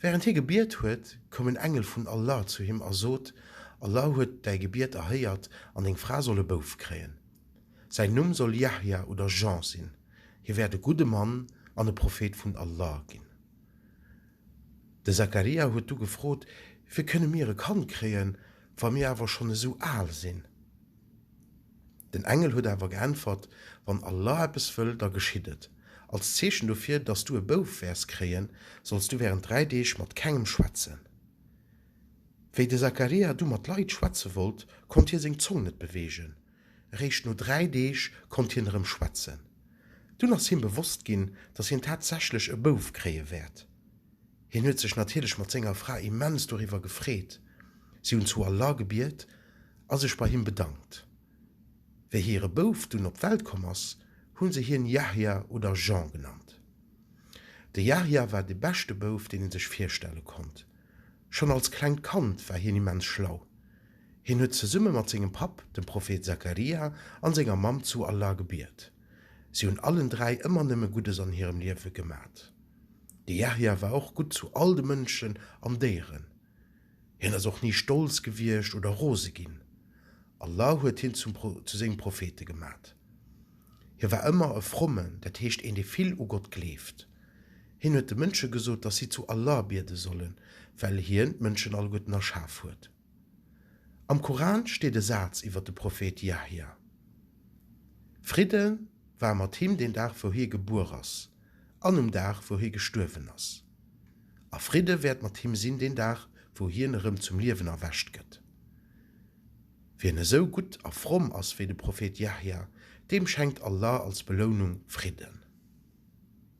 Während hie gebiet huet, koum en Engel vun Allah zu him a sot, Allah huet däi Gebiet erhéiert an deng Fra soll e Bouf kréien. Säin Numm soll Yahya oder Jean sinn. Hie wäert e gudde Mann an e Prophet vun Allah ginn. De Zakaria huet du gefrot, Wéi kënne mir e Kand kréien, wa mir awer schonn esou al sinn? Den Engel huet awer geäntwert, Wann Allah eppes wëll, da geschitt et. Als Zeechen dofir, dass du e Bouf wäers kréien, solls du während dräi Deeg mat kengem schwätzen. Wéi de Sakaria du mat Leit schwätze wollt, konnt hie seng Zong net beweegen. Eréischt no dräi Deeg konnt hien erëm schwätzen. Dunn ass him bewosst ginn, dass hien tatsächlech e Bouf kréie wäert. Hien huet sech natierlech mat senger Fra immens doriwwer gefreet. Si hunn zu Allah gebiet a sech bei him bedankt. Wéi hire Bouf dunn op d'Welt komm ass, hu se hien Yahya oder Jean genannt. De Yahya war de beschte Bouf, deen ee sech virstelle konnt. Schonn als klengt Kand war hien immens schlau. Hien huet zesumme mat sengem Papp, dem Prophet Zakaria, an senger Mamm zu Allah gebiet. Si hunn allen dräi ëmmer nëmme Guddes an hirem Liewe gemat. De Yahya war och gutt zu all de Mënschen an Déieren. Hien ass och ni stolz gewiescht oder rose ginn. Allah huet hien zum zu sengem Prophete gemat. Hie war ëmmer e Frommen, dat heescht een dee vill u Gott gleeft. Hien huet de Mënsche gesot, dass si zu Allah biede sollen, well Hien d'Mënschen alleguerten erschaf huet. Am Koran steet e Saz iwwer de Prophet Yahya, Fridde war mat him, den Dag wou hie gebuer ass an um Dag wou hie gestuerwen ass, a Fridde wäert mat him sinn den Dag wou hien erëm zum Liewen erwächt gëtt. Wien esou gutt a fromm ass wéi de Prophet Yahya, deem schenkt Allah als Belounung Fridden.